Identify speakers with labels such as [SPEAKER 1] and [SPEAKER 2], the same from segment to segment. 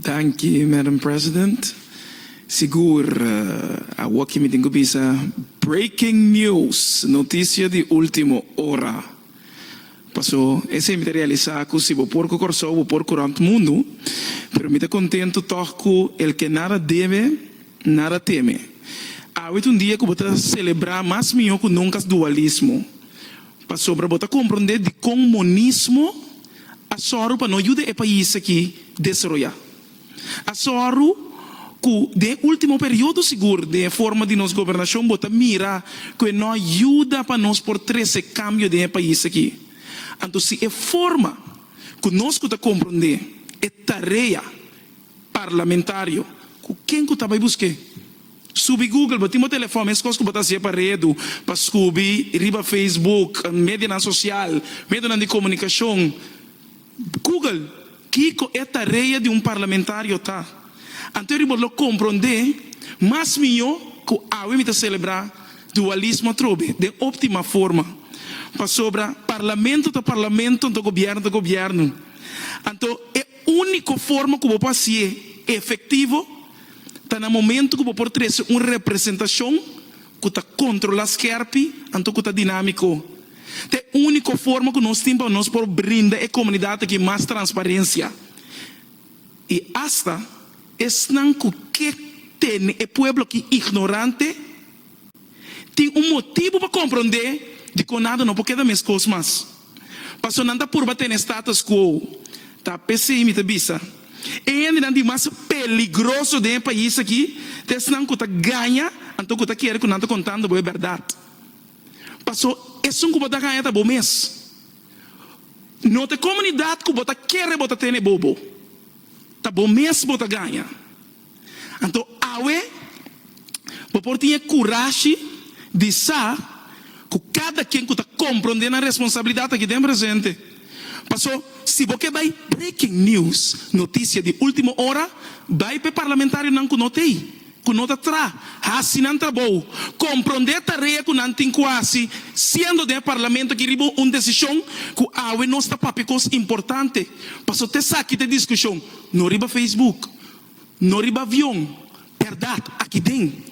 [SPEAKER 1] Danki Madam President. Sigur awoki mi tin ku bisa breaking news, noticia di ultimo ora. Paso esei mi ta realisa ku si bo por ku Kòrsou bo por ku rònt mundu, pero mi ta kontentu tòg ku el ke nada debe, nada teme. Awit un dia ku bo ta selebrá mas mihó ku nunka dualismo. Pasobra bo ta komprondé dikon monismo a sòru pa no yuda e pais akí desaroyá. A sòru ku den e último periodo sigur den e forma di nos gobernashon bo ta mira ku e no a yuda pa nos por trese kambio den e pais akí. Anto si e forma ku nos ku ta komprondé e tarea parlamentario ku ken ku ta bai busk'é? Subi Google, bo tin bo telefòn, mes kos ku bo ta hasié pa redu, pa skubi riba Facebook, medianan sosial, medionan di komunikashon. Google kiko e tarea di un parlamentario ta. Anto ri bo lo komprondé mas mihó ku awe mi ta selebrá dualismo atrobe den óptima forma. Pasobra parlamento ta parlamento, anto gobièrnu ta gobièrnu. Anto e úniko forma ku bo por hasié efektivo. Ta na momento cu bo por trece un representacion cu ta controla scherpi anto cu ta dinamico. Ta e unico forma cu nos tin pa nos por brinda e comunidad aki mas transparencia y hasta esnan cu ke tene e pueblo aki ignorante tin un motibo pa compronde di conado no por keda mescos mas. Paso nan ta purba tene status quo, ta p'esei mi ta bisa, e hendenan di mas peligroso den e pais aki ta esnan ku ta gaña anto ku ta kere ku nan ta kontando bo e bèrdat. Paso esun ku bo ta gaña ta bo mes. No ta e komunidat ku bo ta kere bo ta tene bobo, ta bo mes bo ta gaña. Anto awe bo por tin e kurashi di sa ku kada ken ku ta komprondé nan responsabilidat aki den presente. Paso, si bo ke bai breaking news, notisia di ultimo ora, bai pa e parlamentarionan ku no ta ei, ku no ta tra, hasi nan trabou, komprondé e tarea ku nan tin ku hasi siendo den e parlamento aki riba un desishon ku awe nos ta papia kos importante. Paso, t'esaki ta diskushon, no riba Facebook. No riba avion, berdad, aki den.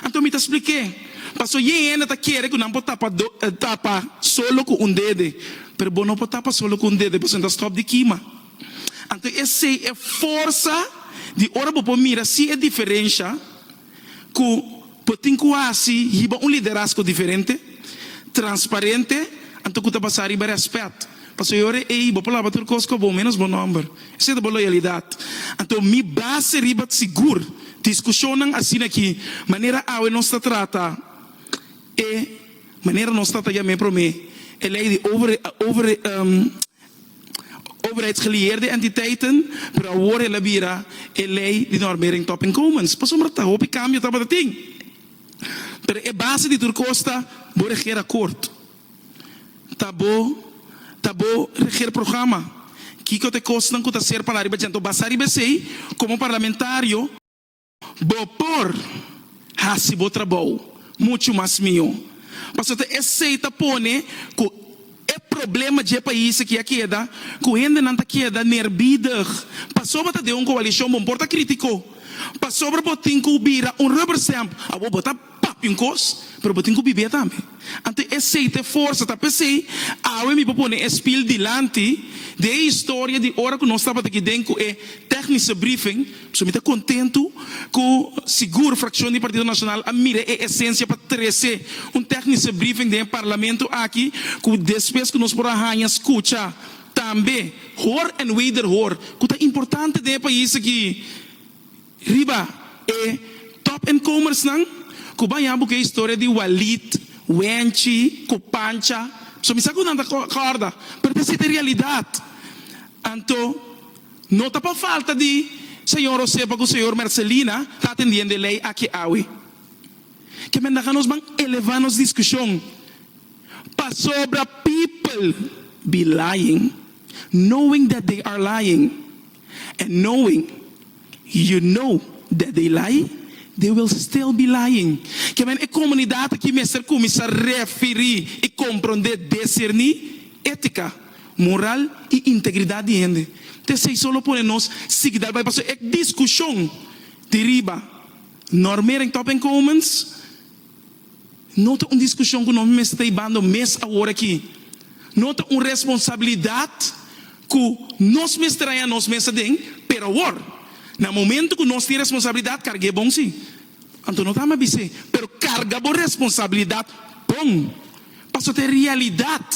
[SPEAKER 1] Anto mi ta spliké, Paso ye hende ta kere ku nan por tapa tapa solo ku un dede, pero bo no por tapa solo ku un dede paso nan ta stòp di kima. Anto esei e forsa di ora bo por mira si e diferensha. ku por tin ku hasi yiba un liderazgo diferente, transparente, anto ku ta basá riba rèspèt. Pasobra e ora ei bo por laba tur kos ku abou, ménos bo nòmber. Esei ta bo loyalidat. Anto mi base riba sigur diskushonnan asina aki, manera awe nos ta trata e manera nos trata yam'é promé, e lei di over overheidsgelieerde entiteiten, pero awor el a bira e lei di normering top inkomens. Pasobra ta hopi kambio tabatatin, pero e base di tur kos ta bo regeer akkoord, ta bo ta bo regeer programa, kiko ta e kosnan ku ta ser pa la riba djente, basá riba esei, komo parlamentario, Bo por hasi bo trabou muchu mas mihó. Pasobra esei ta pone ku e problema dje pais aki a keda ku hendenan ta keda nerbiedig. Pasobra ta den un koalishon bo no por ta kritiko. Pasobra bo tin ku bira un rubber stamp, awor bo ta. papia un kos, pero bo tin ku bibia tambe. Anto e seite forsa ta p'esei awe mi por pone e spiel dilanti di e historia di ora ku nos tabata aki den ku e technische briefing. So mi ta kontentu ku sigur frakshon di Partido Nasional a mira e esensia pa trese un technische briefing den e parlamento aki ku despues ku nos por a haña skucha tambe hoor en wederhoor ku ta importante den e pais aki. Riba e Top en Comersnan ku ban ya bo ku e historia di Walid, Wenchi ku Pancha, so mi sa ku nan ta kòrda, pero ta sete realidat. Anto no ta pa falta di señor José pa ku señor Mercelina ta atendiendo e lei aki awe. Ke menda ka nos ban elevá nos diskushon pasobra people be lying knowing that they are lying. And knowing, you know, that they lie, they will still be lying. Ke men e komunidat aki mester kuminsá refirí i komprondé, deserní, étika, moral i integridat di hende. Ta esei so lo pone nos sigui dal bai paso e diskushon di riba. Normering Top Inkomens. No ta un diskushon ku nos mester ta i bando mes awor aki. No ta un responsabilidat ku nos mester haña nos mes aden, pero awor, na momentu ku nos tin responsabilidat karg'é bon si. Anto no ta ama bis'é, pero karga bo responsabilidat bon, pasobra ta e realidat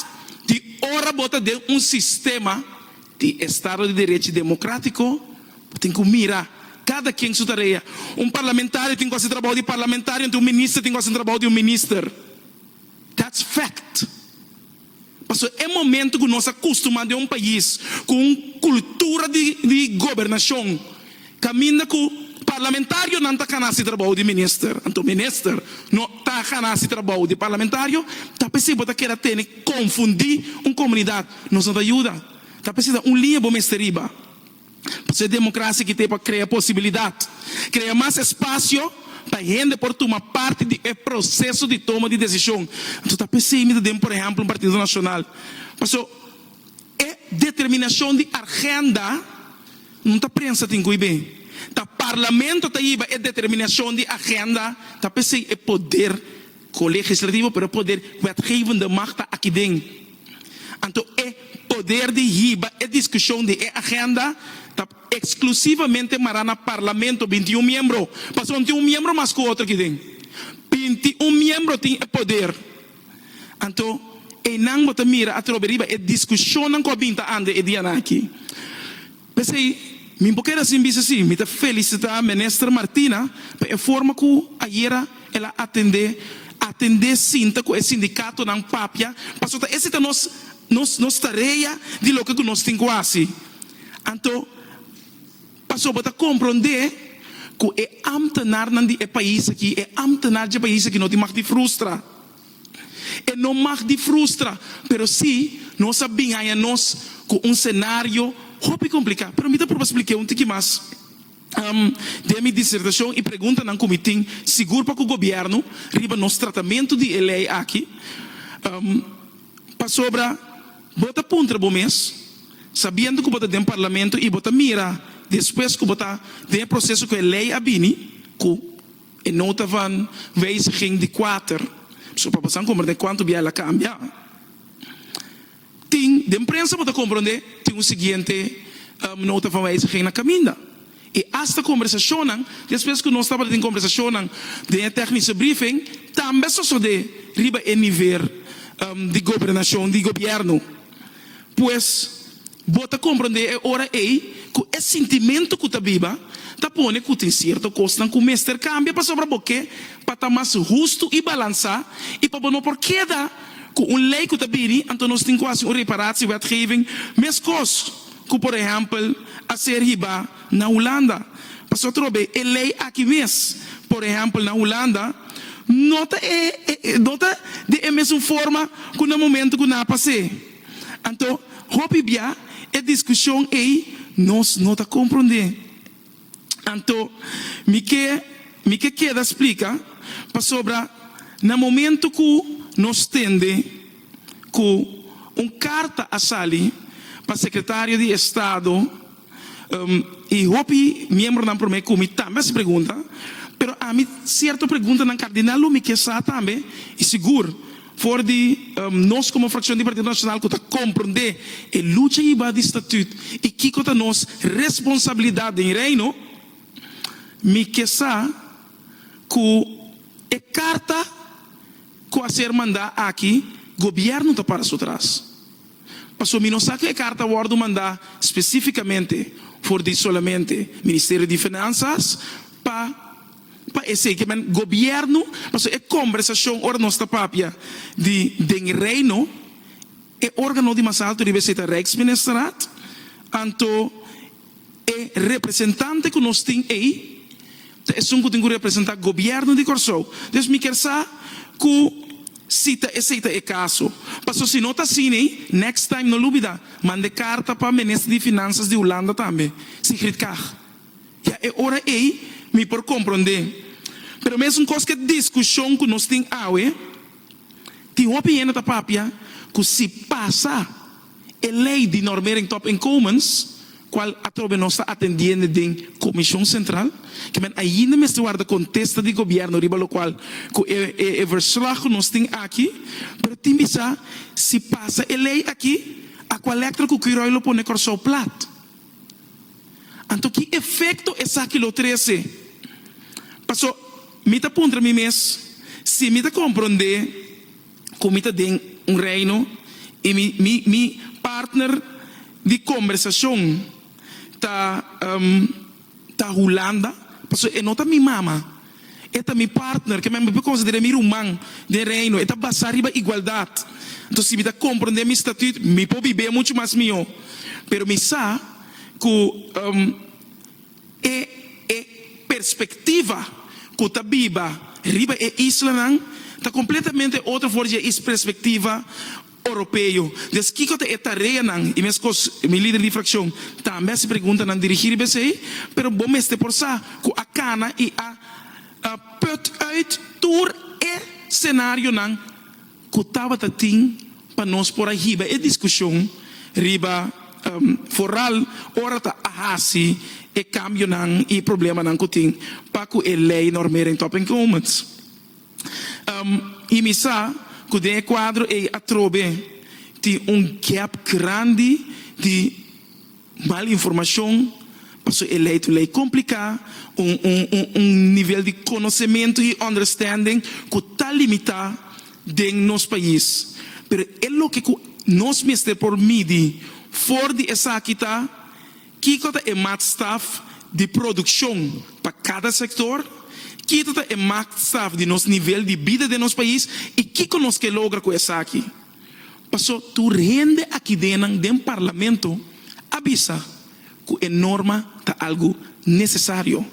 [SPEAKER 1] di ora bo ta den un sistema, di estado di derechi demokratiko, bo tin ku mira kada kien su tarea. Un parlamentario tin ku hasi trabou di parlamentario anto un minister tin ku hasi un trabou di un minister. That's fact. Paso e momento ku nos a kustumá den un pais ku un kultura di di gobernashon, Caminda cu parlamentarionan ta cana si trabou di minister, anto minister no ta cana si trabou di parlamentario, ta p'esei bo ta keda tene confundi un comunidad, nos no ta yuda, ta p'esei ta un liña bo mester riba. P'esei democracia kite pa crea posibilidad, crea mas espacio pa hende por tuma parti di e proceso di toma di decision, anto ta p'esei mi ta den por ehemplo un partido nacional, paso e determinacion di argenda, N ta prensa tin cu ibe ta Parlamento ta yiba e determinacion di agenda, ta pesey e poder colegislativo, pero e poder wetgevende macht ta aki'den. Anto e poder di yiba e discusion di e agenda ta exclusivamente mara na Parlamento, bintiun miembro, pasobra no tin un miembro mas cu otro aki'den. Bintiun miembro tin e poder. Anto, einan bo ta mira atrobe riba e diskushonnan ku a bin ta anda e dianan aki. P'esei, mi bo keda sin bisa si mi ta felisitá Minister Martina pa e forma ku ayera el a atendé atendé sinta ku e sindikatonan papia pasobra ta esei ta nos nos nos tarea di loke ku nos tin ku hasi. Anto, Paso bo ta komprondé ku e ámtenarnan di e pais aki, e ámtenar dje pais aki no tin mag di frustra. E no mag di frustra, pero sí nos a bin haña nos ku un senario hopi kompliká. Pero mi ta pruba splik'é un tiki mas den mi disertashon i preguntanan ku mi tin sigur pa ku gobièrnu riba nos tratamentu di e lei aki. Pasobra bo ta puntra bo mes, sabiendo cu bo ta den Parlamento y bo ta mira despues cu bo ta den e proceso cu e ley a bini, cu e nota van wijziging di kuater, so pa bo sa comprende cuanto bia el a cambia, tin den prensa bo ta comprende tin un siguiente nota van wijziging na caminda. i asta kombersashonnan despues ku nos tabata tin kombersashonnan den e tèknische briefing tambe a sosodé riba e nivel di gobernashon di gobièrnu. Pues bo ta komprondé e ora ei ku e sintimentu ku ta biba ta pone ku tin sierto kosnan ku mester kambia pasobra bo ke pa ta mas hustu i balansá i pa bo no por keda ku un lei ku ta bini, anto nos tin ku hasi un reparatie wetgeving meskos. Ku por ehèmpel a ser hibá na Hulanda. Pasobra trobe e lei aki mes, por ehèmpel na Hulanda, no ta e no ta den e mesun forma ku na momentu ku nan a pas'é. Anto hopi bia e diskushon ei nos no ta komprondé. Anto mi ke mi ke keda splika pasobra na momento ku nos tende ku un karta a sali pa sekretario di estado i hopi miembronan prome ku mi tambe a hasi pregunta pero ami sierto preguntanan kardinal lo mi ke sa tambe i sigur For di nos komo frakshon di Partido Nashonal ku ta komprondé e lucha hibá di statut i kiko ta nos responsabilidat den Reino, mi ke sa ku e karta ku a ser mandá aki Gobièrnu ta para su tras. Pasobra mi no sa ku e karta a wòrdu mandá spesífikamente for di solamente Ministerio di Finansas pa. Pa esei ke men gobièrnu, pasobra e kombersashon ora nos ta papia di den e Reino, e órgano di mas altu riba esei ta Rijksministerraad, anto e representante ku nos tin ei ta esun ku tin ku representá gobièrnu di Kòrsou. Dus mi kier sa ku si ta esei ta e kaso, pasobra si no ta asina ei, next time no lubidá manda e karta pa Minister di Finanzas di Hulanda tambe, Sigrid Kaag. Ya e ora ei mi por komprondé. Pero mesun kos ku e diskushon ku nos tin awe, tin hopi hende ta papia ku si pasa e lei di normering top-inkomens, kual atrobe nos ta atendiende den Komishon Sentral, ke men ainda mester warda kontesta di gobièrnu riba lokual ku e verslag ku nos tin aki, pero tin di sa si pasa e lei aki, a kua lèktra ku Kwiroy lo pone Kòrsou plat? Anto ki efekto esaki lo trese? Paso, mi ta puntra mi mes si mi ta komprondé ku mi ta den un reino i mi mi mi partner di kombersashon ta ta Hulanda, paso e no ta mi mama. E ta mi partner, ke men mi por konsider'é mi ruman den Reino. E ta basá riba igualdat. Anto si mi ta komprendé mi statüt, mi por bib'é muchu mas mihó. Pero mi sa ku e e perspektiva ku ta biba riba e islanan ta kompletamente otro for di e is perspektiva. Oropeo. Des kiko ta e tareanan i meskos mi lider di frakshon tambe a hasi preguntanan dirigí riba esei, pero bo mester por sa ku a kana i a put uit tur e senarionan ku tabata tin pa nos por a hiba e diskushon riba foral ora ta a hasi e kambionan i problemanan ku tin pa ku e lei Normering Top Encounments. I mi sa ku den e kuadro ei atrobe tin un gèp grandi di mal informashon, paso e lei ta un lei kompliká, un un un un nivel di konosementu i ònderstènding ku ta limitá den nos pais. Pero e loke ku nos mester por midi for di esaki ta. Kiko ta e maatstaf di produkshon pa kada sektor? Kito ta e maatstaf di nos nivel di bida den nos pais i kiko nos ke logra ku esaki? Paso tur hende akidenan den parlamento a bisa ku e norma ta algu nesesario.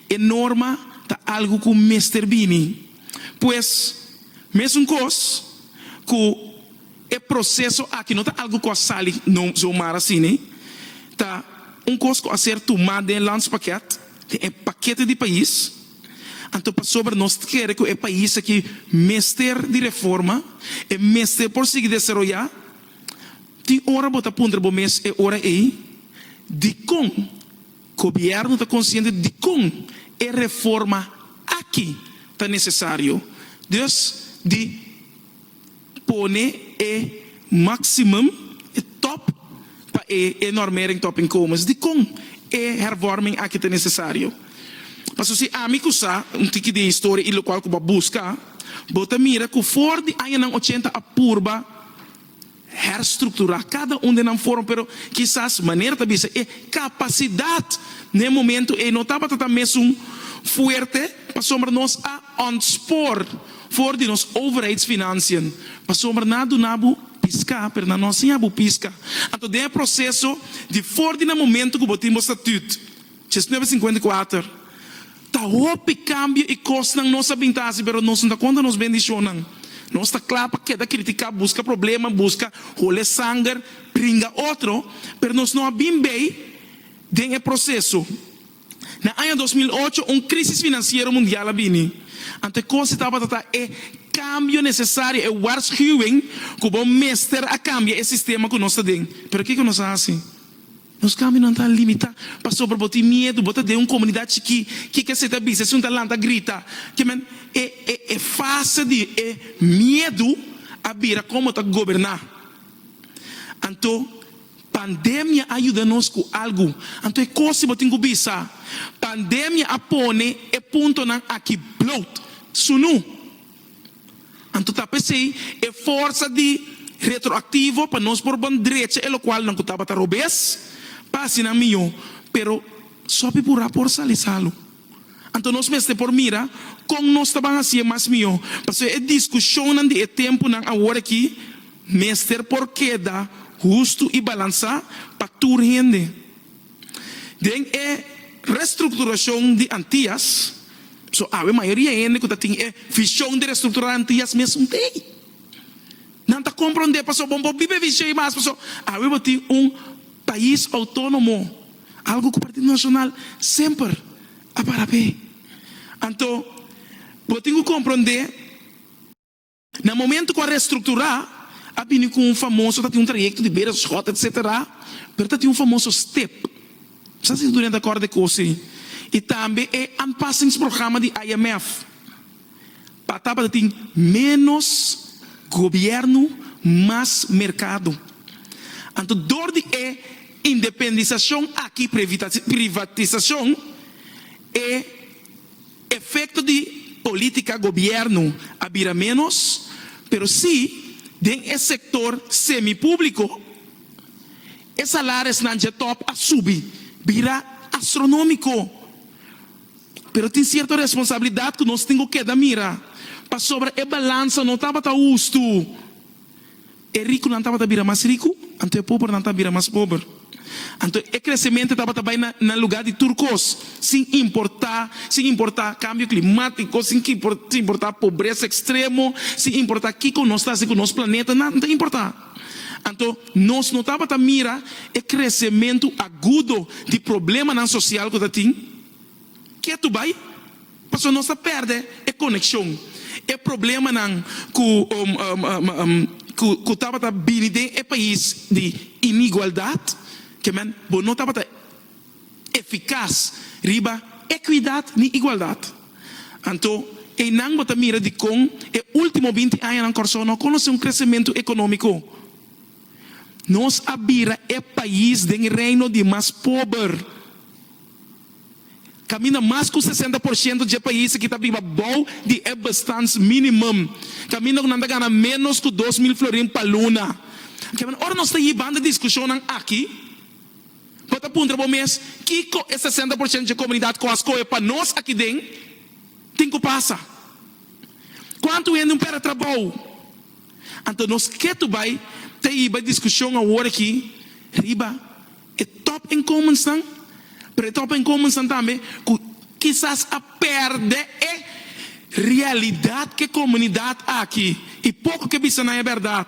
[SPEAKER 1] E norma ta algu ku mester bini. Pues, mesun kos ku. E proseso aki no ta algu ku a sali no zomar asina. Ta un kos ku a ser tumá den landspakket, den e pakete di pais. Anto pasobra nos ta kere ku e pais aki mester di reforma, e mester por sigui desaroyá, tin ora bo ta puntra bo mes e ora ei, Dikon Gobièrnu ta konsiente dikon e reforma aki ta nesesario? Dus di. pone e maximum, e top, pa e e normering top inkomens. Dikon e hervorming aki ta nesesario? Paso si ami ku sa un tiki di e historia i lokual ku bo a buska, bo ta mira ku for di añanan ochenta a purba herstrukturá kada un den nan forma, pero kisas manera ta bisa e kapasidat na e momentu ei no tabata ta mesun fuerte pasobra nos a. Ontspoor for di nos overheidsfinancian pasobra nan a duna bo pisca pero nan no a siña bo pisca. Anto den e proceso di for di na momento cu bo tin bo statut, Diecinueve cincuenta y cuater, ta hopi cambio y cosnan nos a bin ta haci pero nos no ta conta nos bendicionnan. Nos ta cla pa keda critica, busca problema, busca hole sanger, pringa otro pero nos no a bin bay den e proceso Na aña dos mil ocho un krísis finansiero mundial a bini, anto kos e tabata ta e kambio nesesario, e waarschuwing ku bo mester a kambia e sistema ku nos ta den. Pero kiko nos a hasi? Nos kambionan ta limitá pasobra bo tin miedu, bo ta den un komunidat chikí ke ke asepta bisa esun ta lanta grita. Ke men, e e e fase di e miedu a bira kon bo ta goberná. Anto Pandemia a yuda nos ku algu, anto e kos di bo tin ku bisa, Pandemia a pone e puntonan aki bloot, sunu. Anto ta p'esei e forsa di retroaktivo pa nos por bon drecha e lokual nan ku tabata robes pa hasi nan mihó, pero sopi purá por sali salu. Anto nos mester por mira kon nos ta ban hasié mas mihó. Pasobra e diskushonnan di e tempunan awor akí mester por keda hustu i balansá pa tur hende. Den e restrukturashon di Antias, so awe mayoria hende ku ta tin e vishon di restrukturá Antias mes un tei. Nan ta komprondé pasobra bo no por biba e vishon ei mas, pasobra awe bo tin un pais outónomo. algu ku Partido Nacional semper a para p'e. Anto bo tin ku komprondé na momento ku a restrukturá a bini ku un famoso ta tin un trayekto di bera shòt etsetera pero ta tin un famoso step sa si Centurion ta kòrda di kosi i tambe e anpassingsprograma di IMF. Pa tabata tin ménos gobièrnu, mas merkado. Anto dor di e independisashon aki, privatisashon, e efekto di polítika gobièrnu a bira ménos, pero sí den e sektor semipúbliko e salaresnan dje tòp a subi bira astronómiko. Pero tin sierto responsabilidat ku nos tin ku keda mira, pasobra e balansa no tabata hustu. E rikunan tabata bira mas riku, anto e pobernan ta bira mas pober. Anto e kresementu tabata bai na na lugá di tur kos, sin importá sin importá kambio klimatiko, sin sin importá pobresa ekstremo, sin importá kiko nos ta hasi ku nos planeta, nan ta importá. Anto, nos no tabata mira e kresementu agudo di problemanan sosial ku ta tin? Ke tu bai? Pasobra nos ta pèrdè e konekshon. E problemanan ku ku tabata bini den e pais di inigualdat, ke men bo no tabata. efikas riba ekuidat ni igualdat. Anto, einan bo ta mira dikon e último binti añanan Kòrsou no a konosé un kresementu ekonómiko. Nos a bira e pais den reino di mas pober. Kaminda mas ku sesenta por shento dje pais aki ta biba bou di e bestaansminimum, kaminda ku nan ta gana ménos ku dos mil florin pa luna. Kiabanda ora nos ta yi banda diskushonnan aki? Bo ta puntra bo mes, Kiko e sesenta por ciento dje comunidad cu a scohe pa nos aki den tin cu pasa? Cuantu hende un pera trabou? Anto nos ketu bay ta hiba e discusion awor aki riba e top incumbensnan, pero e top incumbensnan tambe cu kisas a perde e realidad cu e comunidad aki y poco ke bisa nan e berdad.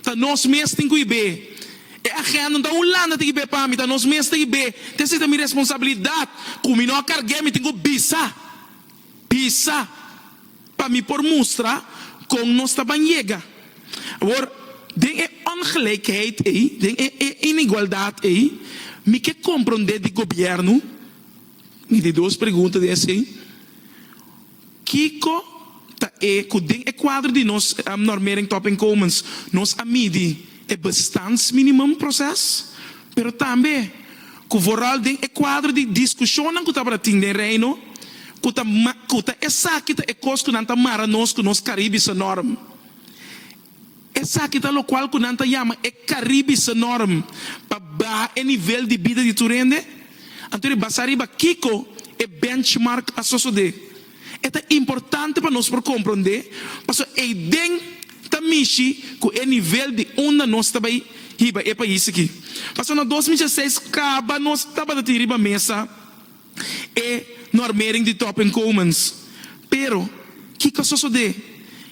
[SPEAKER 1] Ta nos mes tin cu ibe. E agenda no ta un landa tin ibe pa mi, ta nos mes ta ibe. Te si ta mi responsabilidad cu mi no a carge, mi tin cu bisa, bisa pa mi por mustra con nos ta ban yega. Awor, den e ongelijkheid ey, den e e inigualdad ey, mi ke compronde di gobierno, mi di dos pregunta den esey, Kiko ta e ku den e kuadro di nos normering topinkomens nos a midi e bestandsminimum proses, pero tambe ku vooral den e kuadro di diskushonnan ku tabata tin den Reino ku ta ku ta esaki ta e kos ku nan ta mara nos ku nos Karibische norm? Esaki ta lokual ku nan ta yama e Karibische Norm pa baha e nivel di bida di tur hende. Anto ora e basa riba kiko e benchmark a sosodé, e ta importante pa nos por komprondé paso eiden ta mishi ku e nivel di unda nos ta bai hiba e pais aki. Paso na dos mil dieseis kaba nos tabata tin riba mesa. E no a mering di Topping Commons, pero kiko a sosodé?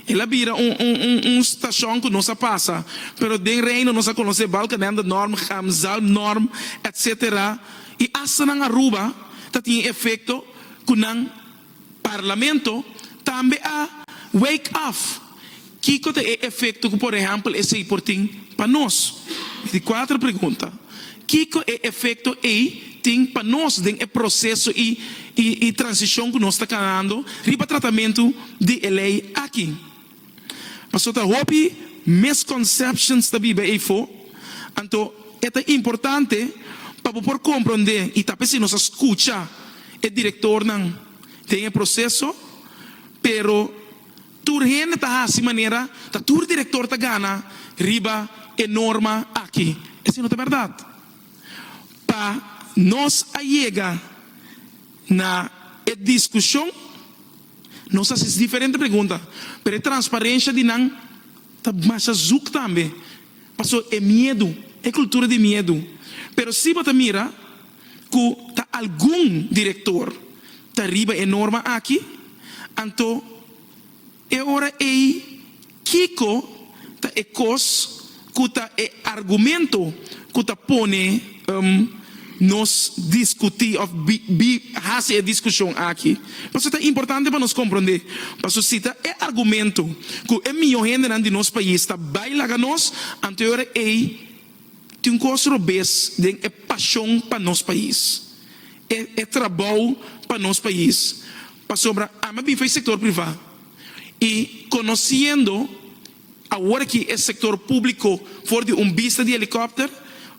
[SPEAKER 1] El a bira un stashon ku nos a pasa, pero den Reino nos a konosé Balkenende Norm, Chamzal Norm, etc. I asta nan Aruba ta tin e efekto ku nan Parlamento tambe a wake up kiko ta e efekto ku por ehèmpel esei por tin pa nos. Mi tin kuater pregunta, kiko e efekto ei tin pa nos den e proseso i i transishon ku nos ta kanando riba tratamentu di e lei aki? Paso ta hopi misconceptions ta biba eyfo, anto e ta importante pa bo por compronde y ta p'esey nos a scucha e directornan den e proceso, pero tur hende ta haci manera ta tur director ta gana riba e norma aki. Esey no ta berdad. Pa nos a yega na e discusion. Nos a hasi diferente pregunta, pero e transparencia di nan ta masha zoek tambe, paso e miedu, e cultura di miedu. Pero si bo ta mira cu ta algun director ta riba e norma aki, anto e ora ey, Kiko ta e kos ku ta e argumento ku ta pone nos diskutí òf hasi e diskushon aki? Pasobra ta importante pa nos komprondé, pasobra si ta e argumento ku e mihó hendenan di nos pais ta bai laga nos, anto e ora ei tin un kos robes den e pashon pa nos pais, e trabou pa nos pais. Pasobra ami a bin for e sektor privá. Y conociendo awor aki e sector publico for di un bista di helicopter,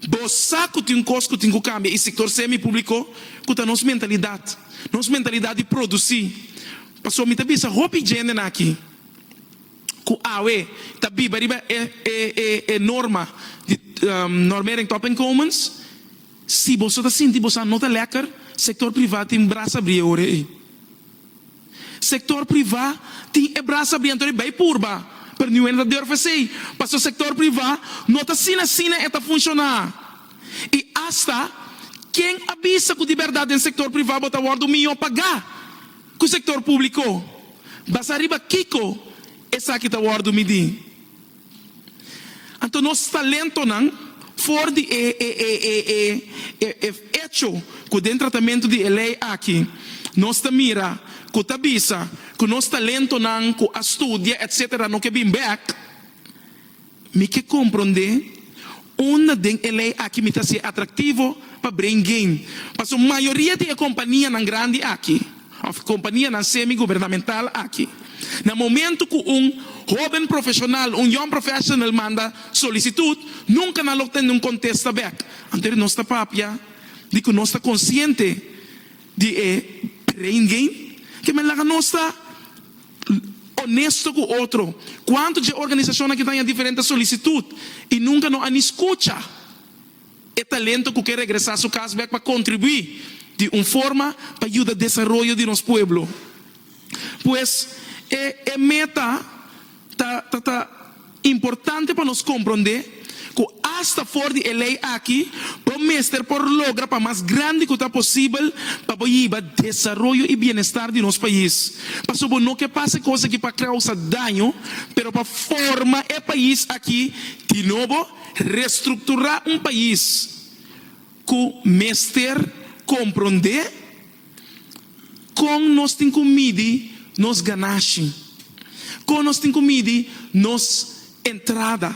[SPEAKER 1] bo sa cu tin un cos cu tin cu cambia y sector semi publico cu ta nos mentalidad, nos mentalidad di produci. Pasobra mi ta bisa hopi djenden aki cu awe ta biba riba e e e norma di Normering Top and Commons, si boso ta sinti boso a no ta lekker, sector priva tin brasa brie ora ey. Sector priva tin e brasa biento riba e purba, pero niun hende ta durf esey, pasobra sector priva no ta asina asina e ta funciona. Y hasta ken a bisa cu di berdad den sector priva bo ta wordo miyo paga cu sector publico? Basa riba kico esaki ta wordo midi? Anto nos talentonan for di e e echo ku den tratamentu di e lei aki nos ta mira ku ta bisa ku nos talentonan ku a studia etsetera no ke bin bek, mi ke komprondé unda den e lei aki mi ta hasié atraktivo pa brain gain. Paso mayoria di e kompanianan grandi aki. òf kompanianan semi-gubernamental aki. Na momentu ku un hóben profeshonal, un young professional, manda solisitut, nunka nan lo tende un kontesta bèk. Anto nos ta papia di ku nos ta konsiente di e brain game. Ke men laga nos ta onesto ku otro. Kuantu dje organisashon aki ta haña diferente solisitut i nunka no a ni skucha? E talento cu ke regresa su cas bek pa contribui di un forma pa yuda desaroyo di nos pueblo. Pues, e e meta ta ta ta importante pa nos compronde cu hasta for di e ley aki bo mester por logra pa mas grandi cu ta posibel pa bo yiba desaroyo y bienestar di nos pais. Paso bo no ke pasa e cos aki pa causa daño pero pa forma e pais aki di nobo. Restrukturá un pais ku mester komprondé kon nos tin ku midi nos ganashi, kon nos tin ku midi nos entrada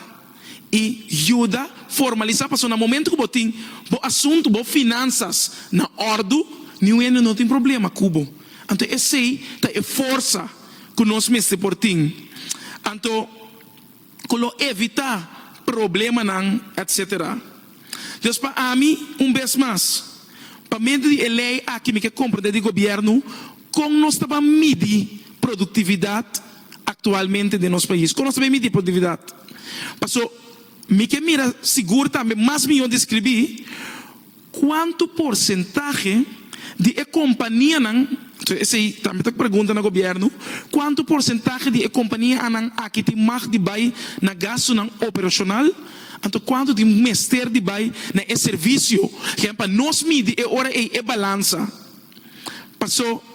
[SPEAKER 1] i yuda formalisá. Pasobra na momentu ku bo tin bo asuntu, bo finansas na òrdu, niun hende no tin problema ku bo. Anto esei ta e forsa ku nos mester por tin. Anto. ku lo evitá problemanan etc. Dios pa ami un bes mas, pa medio di e lei aki mi ke komprendé di gobièrnu kon nos ta ban midi produktividat aktualmente den nos pais, kon nos ta bin midi produktividat. Paso mi ke mira sigur tambe mas mihó di skribí. Cuanto porcentahe di e companianan, so esey tambe ta pregunta na gobierno, cuanto porcentahe di e companianan aki tin mag di bay na gastonan operacional, anto cuanto tin mester di bay na e servicio, gen pa nos midi e ora ey e balansa, paso.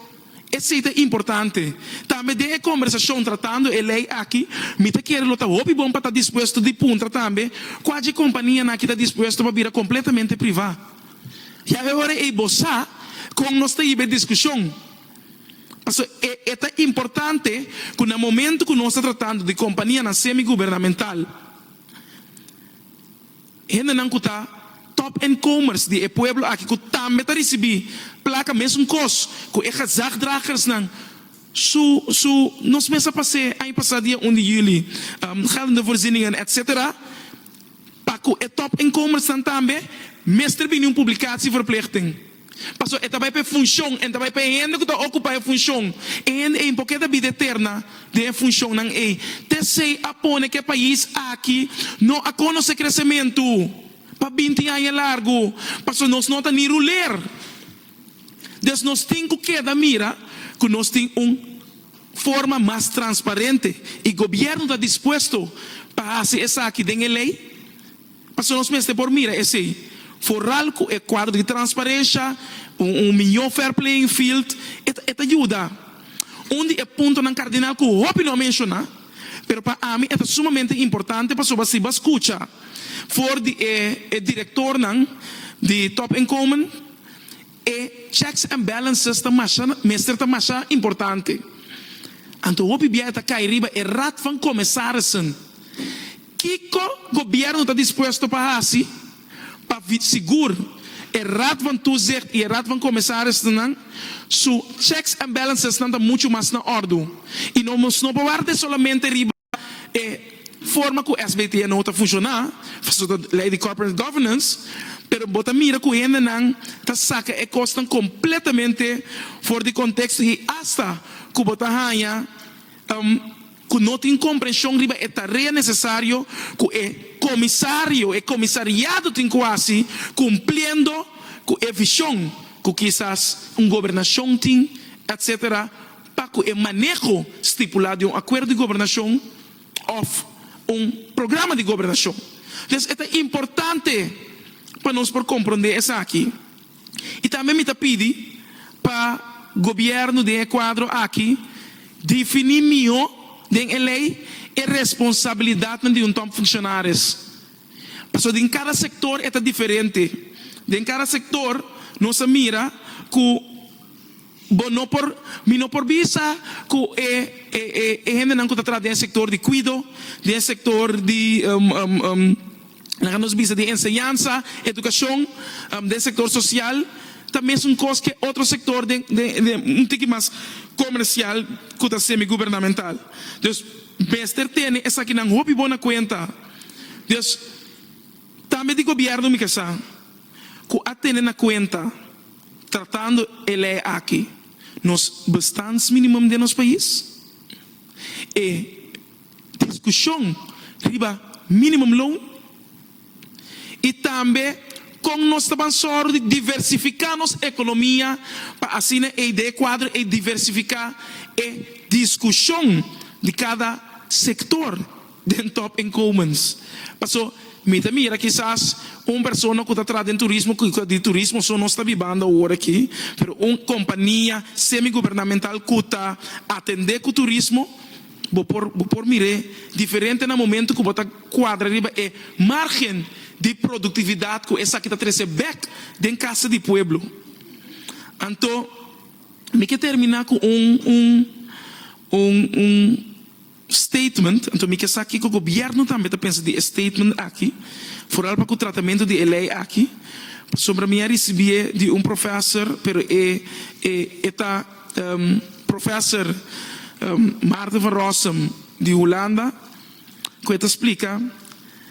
[SPEAKER 1] Esei ta importante. Tambe den e kombersashon tratando e lei aki, mi ta kere lo ta hopi bon pa ta dispuesto di puntra tambe kua dje kompanianan ki ta dispuesto pa bira kompletamente privá. Ya e ora ei bo sa kon nos ta hiba e diskushon. Pasobra e e ta importante ku na momentu ku nos ta tratando di kompanianan semi-gubernamental, Hendenan ku ta top en komers di e pueblo aki ku tambe ta risibí plaka mesun kos ku e gezagdragersnan su su nos mes a pas'é aña pasá dia un di juli geldende voorzieningen etc. Pa ku e top en komersnan tambe mester bini un publikatie verplichting. Pasobra e ta bai pa e funshon, e ta bai pa e hende ku ta okupá e funshon. E hende ei por ke ta bida eterna den e funshonnan ei. T. Esei a pone ku e pais aki no a konosé kresementu pa binti aña largu, pasobra nos no ta ni ruler. Des nos tin ku keda mira ku nos tin un forma mas transparente, i gobièrnu ta dispuesto pa hasi esaki den e lei. Pasobra nos mester por mira esei foral ku e kuadro di transparesha, un un mihó fair playing field, e ta e ta yuda. Un di e puntonan kardinal ku hopi no a menshoná, pero pa ami e ta sumamente importante pasobra si bo a skucha for di e e direktornan di Top Inkomen, e checks and balances ta masha mester ta masha importante. Anto hopi bia e ta kai riba e Raad van Commissarissen. Kiko Gobierno ta dispuesto pa hasi pa sigur e Raad van Toezicht i e Raad van Commissarissen su checks and balancesnan ta muchu mas na ordu i no nos no por ward'é solamente riba e forma ku SBT a no ta funshoná, pasobra ta lei di corporate governance, pero bo ta mira ku hendenan ta saka e kosnan kompletamente for di konteksto i asta ku bo ta haña. ta ku no tin komprenshon riba e tarea nesesario ku e komisario, e komisariado tin ku hasi kumpliendo ku e vishon ku kisas un gobernashon tin, etc. Pa ku e maneho stipulá den un akuerdo di gobernashon òf un programa di gobernashon. Entonces e ta importante pa nos por komprondé esaki. Y tambe mi ta pidi pa Gobierno den e cuadro aki defini miho den e ley e responsabilidadnan di un Top Funcionaris. Pasobra den cada sector e ta diferente. Den cada sector nos a mira cu. Bo no por, mi no por bisa ku e e hendenan ku ta traha den e sektor di kuido, den e sektor di laga nos bisa di enseñansa, edukashon, den e sektor sosial ta mesun kos ku e otro sektor den den un tiki mas komersial ku ta semigubernamental. Dus mester tene esakinan hopi bon na kuenta. Dus tambe di gobièrnu mi ke sa ku a tene na kuenta. Tratando e lei aki nos bestandsminimum den nos pais, e discusion riba minimum loan y tambe con nos ta ban soro di diversifica nos economia pa asina e idea cuadro ey diversifica e discusion di cada sector. den top inkomens. Paso mi ta mira kisas un persona ku ta traha den turismo ku di turismo so nos ta bibando awor aki, pero un kompania semi gubernamental ku ta atendé ku turismo bo por bo por mir'é diferente na momentu ku bo ta kuadra riba e margen di produktividat ku esaki ta trese bèk den kasa di pueblo. Anto mi ke terminá ku un un un un. statement, anto mi ke sa kiko gobierno tambe ta pensa di e statement aki, foral pa ku tratamentu di e lei aki, pasobra mi a risibié di un professor pero e e ta professor Maarten van Rossum di Hulanda ku e ta splika.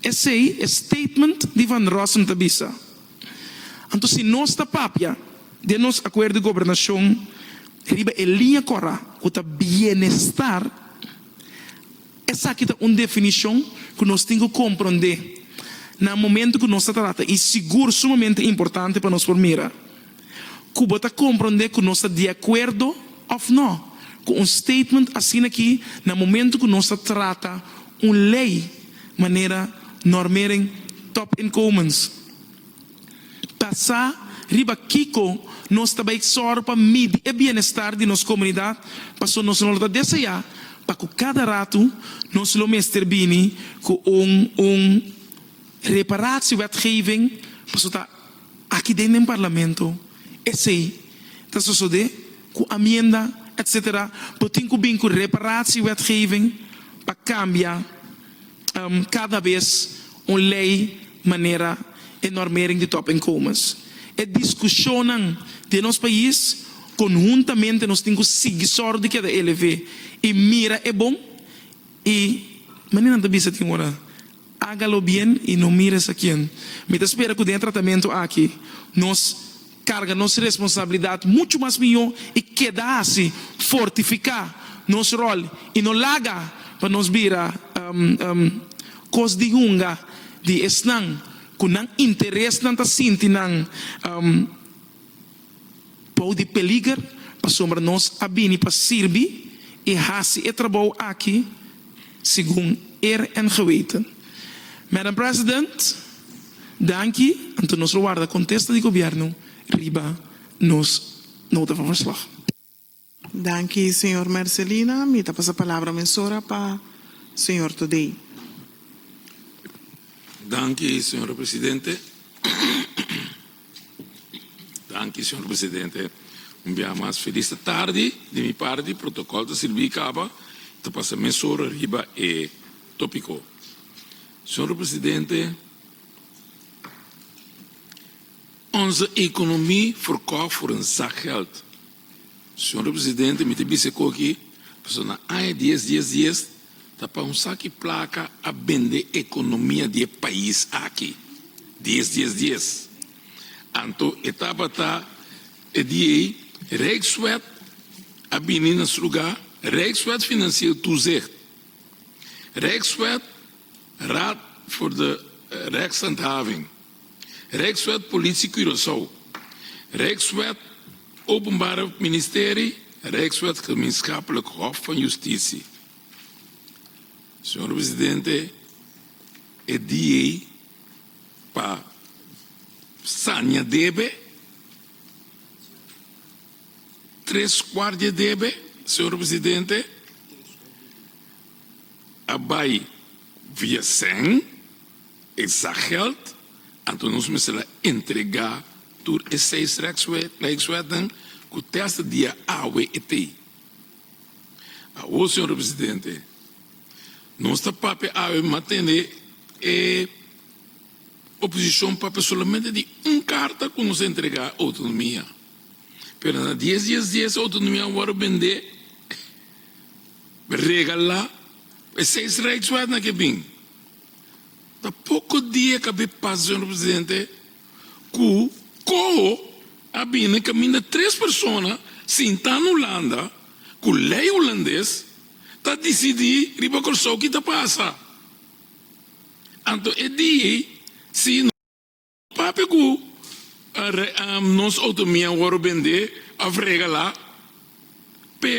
[SPEAKER 1] Esei e statement di Van Rossum ta bisa. Anto si nos ta papia den nos akuerdo di gobernashon riba e liña kòrá ku ta bienestar, esaki ta un definishon ku nos tin ku komprondé na momentu ku nos ta trata i sigur sumamente importante pa nos por mira. ku bo ta komprondé ku nos ta di akuerdo òf nò ku un statement asina aki na momentu ku nos ta trata un lei manera normering top inkomens ta sa riba kiko nos ta bai sòru pa midi e bienestar di nos komunidat paso nos no lo ta deseá pa ku kada ratu nos lo mester bini ku un un reparatiewettgeving paso ta Aki den den Parlamento esei ta sosodé ku amienda etc. Bo tin ku bin ku reparatiewetgeving pa kambia kada bes un lei manera e normering di topinkomens. E diskushonnan den nos pais konhuntamente nos tin ku sigui sòru di keda elev'é i mira e bon i manera nan ta bisa tin ora. Haga lo bien y no mires a quien. Mi ta spera cu den e tratamento aki nos carga nos responsabilidad mucho mas miyo y keda haci fortifica nos rol y no laga pa nos bira cos di hunga di esnan cu nan interesnan ta sinti nan Bou di peliger, pasobra nos a bini pa sirbi i hasi e trabou aki segun eer en geweten. Madam President, danki, anto nos lo warda contesta di Gobierno riba nos nota van verslag. Danki señor Mercelina, mi ta pasa palabra mesora pa señor Todei. Danki señor presidente, danki señor presidente, un bia mas felis ta tardi di mi parti, protocol ta sirbi caba, ta pasa mesora riba e topico. Señor presidente, onze economi verkoop voor een zakgeld. Señor Presidente, mi ta bisa e koki pasobra na aña dies, dies, dies ta pa un saki placa a bende economia di e pais aki, dies, dies, dies. Anto e tabata e di ei Rijkswet a bini na su lugar, Rijkswet Financieel Toezicht, Rijkswet Raad voor de Rechtshandhaving. Rijkswet Politie Curaçao, Rijkswet Openbare Ministerie, Rijkswet Gemeenschappelijk Hof van Justitie. Señor Presidente, e día ei pa saña debe, tres kuart dje debe, Señor Presidente, a bai via sèn. Esa geld, anto nos mester a entrega tur e seis rijkswetten ku te hasta dia awe e tei. Awor, señor Presidente, nos ta papia awe matende e oposishon papia solamente di un karta ku nos a entrega e outonomia, pero na dies dies dies e outonomia a wòrdu bendé, regalá, pa e seis rijkswetten a ke bin. Ta poko dia kab'é pas, señor presidente, ku Coho a bini kaminda tres persona sintá na Hulanda ku lei hulandes ta disidí riba Kòrsou ki ta pasa. Anto e dia ei si no papia ku nos outonomia a wòrdu bendé òf regalá, pero.